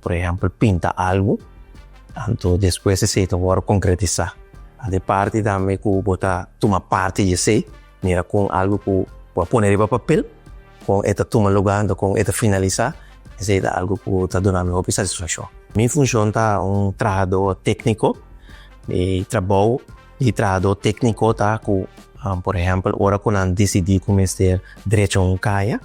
Por ehempel pinta algu, anto despues esei ta wòrdu konkretisá. Ant e parti tambe ku bo ta tuma parti di esei, mira kon algu ku bo a pone riba papel, kon e ta tuma lugá anto kon e ta finalisá, esei ta algu ku ta duna mi hopi satisfakshon. Mi funshon ta un trahadó tékniko. Mi trabou di trahadó tékniko ta ku, por ehempel, ora ku nan disidí ku mester drecha un kaya,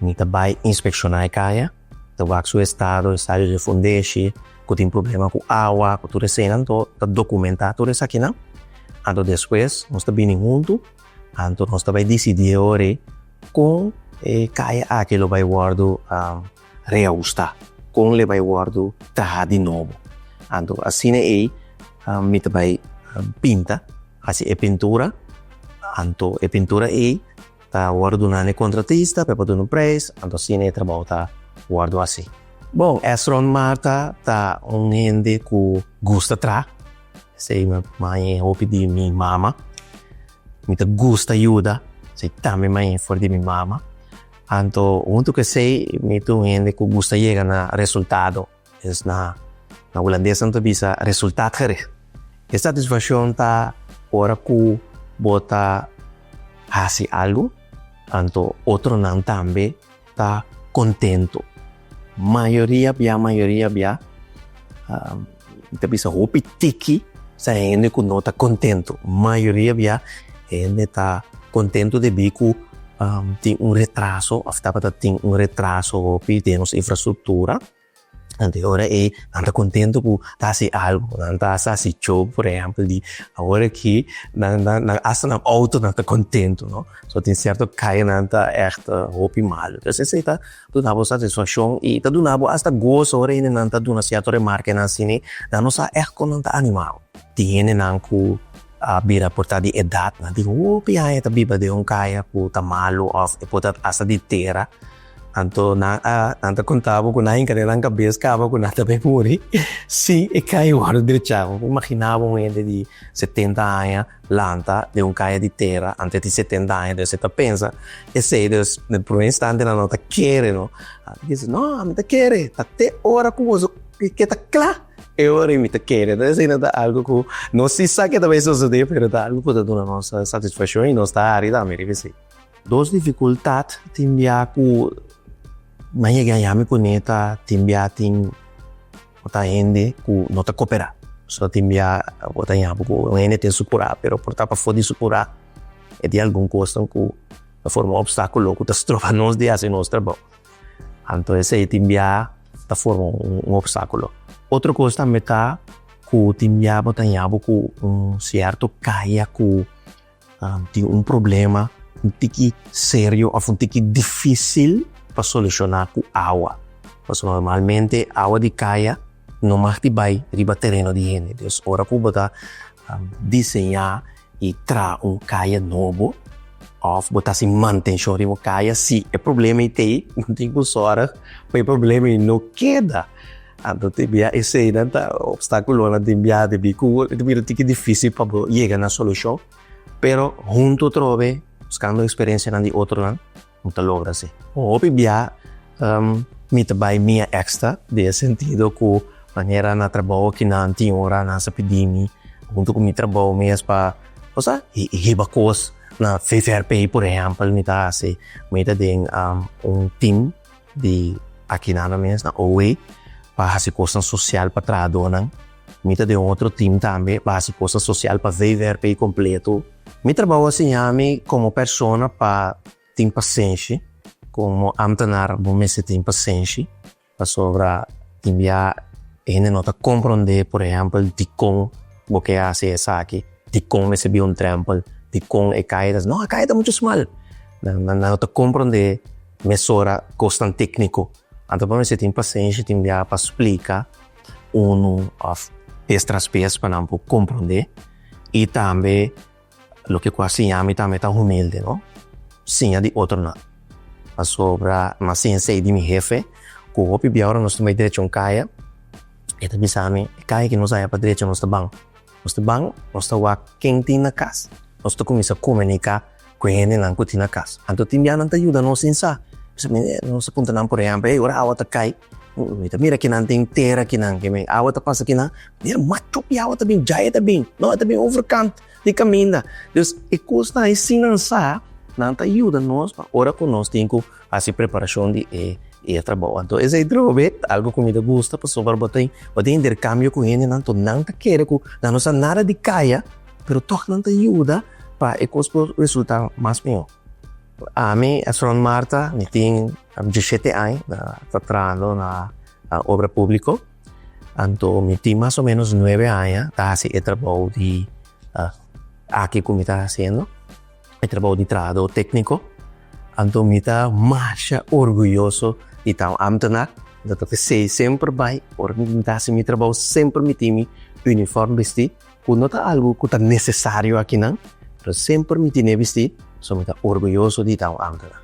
Mi ta bai inspekshona e kaya, ta wak su estado, estadio di e fundeshi, ku tin problema ku awa, ku tur esenan to, ta dokumentá tur esakinan. Anto despues nos ta bini huntu, anto nos ta bai disidí e ora ei kon e kaya aki lo bai wòrdu reahustá, kon lo bai wòrdu trahá di nobo. Anto asina ei mi ta bai pinta, hasi e pintura, anto e pintura ei, ta wòrdu duna na e kontratista pa e por duna un preis, anto asina e trabou ta wòrdu hasi. Bon, Esron Marta ta un hende ku gusta traha, esei mi a manja e hopi di mi mama. Mi ta gusta yuda, esei tambe mi manja e for di mi mama. Anto huntu ku esei mi ta un hende ku gusta yega na resultado. Pues na hulandes nan ta bisa resultat gere. E satisfaccion ta ora cu bo ta haci algo anto otronan tambe ta contento. Mayoria bia mayoria bia, mi ta bisa hopi tiki sa hende cu no ta contento. Mayoria bia hende ta contento debi cu tin un retraso of tabata tin un retraso hopi den nos infrastructura. Nan tin ora ei nan ta kontentu ku ta hasi algu, nan ta hasta hasi cho, por ehèmpel di awor aki nan nan hasta nan outo nan ta kontentu no, so tin sierto kaya nan ta ègt hopi malu pues esei ta duna bo satisfakshon i ta duna bo hasta goso ora hende nan ta duna sierto remarka i nan sini nan no sa ègt kon nan ta animau, tin hendenan ku a bira por ta di edatnan tin hopi aña ta biba den un kaya ku ta malu òf e por ta hasta di tera. Anto nan a nan ta konta bo ku nan hinka den nan kabes kaba ku nan ta bay muri si e kaya a wòrdu drechá. Bo por imaginá bo un hende di setenta aña lanta den un kaya di tera ante tin setenta aña dus e ta pensa esei. Dus den e promé instante nan no ta kere no. Bo dios no ami ta kere ta te ora ku boso ke ta kla e ora mi ta kere. Entonces esei no ta algu ku no si sa ke ta bay sosodé pero ta algu ku ta duna nos satisfakshon i nos ta hari tambe riba esei. Dos dificultad tin bia cu nan yega a yami cuneta tin bia tin cu ta hende cu no ta copera so tin bia bo ta yama cu un hende tin su cura pero por ta pafor di su cura e tin algun cosnan cu ta forma obstaculo cu ta stroba nos di haci nos trabao anto esey tin bia ta forma un obstaculo otro cos tambe ta cu tin bia bo ta yama cu un cierto caya cu. tin un problema un tiki serio of un tiki dificil pa soluciona cu awa. Pasobra normalmente awa di caya no mag di bay riba tereno di hende. Entonces ora cu bo ta diseña y traha un caya nobo of bo ta haci mantencion riba un caya si e problema y ta ey bo tin cu zorg pa e problema y no keda. Anto te bia eseinan ta obstáculonan den biaha di bi cu ta bira tin ki difícil pa bo yega na solucion, pero hunto atrobe buscando experiencianan di otronan bo ta logra así. Hopi biaha mi ta bay mia extra den e sentido cu manera na trabou aki nan tin ora nan sa pidi mi hunto cu mi trabou mes pa bo sa hiba cos na VVRP por ejemplo mi ta haci mi ta den un team. di Aquinana mes na OWE pa haci cosnan social pa trahadornan. Mi ta den otro team tambe pa haci cosnan social pa VVRP completo. Mi trabao a siñami como persona pa tin pasenshi, como ambtenaar bo mester tin pasenshi pasobra tin bia e hende no ta comprende por ehempel dicon bo ke haci esaki, dicon mester bin un drempel, dicon e caidas, no a caida mucho smal, Nan no ta komprendé mesora kos tan tékniko. Anto pa mester tin pasensha, tin biaha pa splika unu òf bes tras bes pa nan por komprendé. I tambe loke ku a siña mi tambe ta humilde, no? Siña di otronan. Pasobra m'as siña esei di mi hefe ku hopi bia ora nos ta bai drecha un kaya, e ta bisa mi e kaya ku nos haya pa drecha nos ta ban. Nos ta ban, nos ta wak ken tin na kas. Nos ta kuminsá komuniká ku e hendenan ku tin na kas. Anto tin biaha nan ta yuda nos tin sa. Nos a puntra nan, por ehèmpel, Hey, ora awa ta kai, mi ta mira kinan ta henter aki nan. Awa ta pasa kinan. Mira, machu di awa ta bini. Djai e ta bini. No, e ta bini overkant di kaminda. Dus, e kosnan asin nan sa, nan ta yuda nos pa ora ku nos tin ku. Hasi preparashon di e i e trabou. Anto esei drobe algu ku mi ta gusta pasobra bo ta bo ta interkambio ku hendenan ku nan ta kere ku nan no sa nada di kaya pero tòg nan ta yuda pa e kos por resultá mas mihó. Ami a Sront Marta mi tin dishete aña ta ta trabahando na obra públiko anto mi tin mas o menos nuebe aña ta hasi e trabou di aki ku mi ta hasiendo. e trabou di trahadó tékniko, anto mi ta masha orguyoso di ta un ámtenar. Lo ta p'esei semper bai ora mi tin ta hasi mi trabou semper mi tin mi unifòrm bistí, ku no ta algu ku ta nesesario akinan, pero semper mi tin'é bistí, so mi ta orguyoso di ta un ámtenar.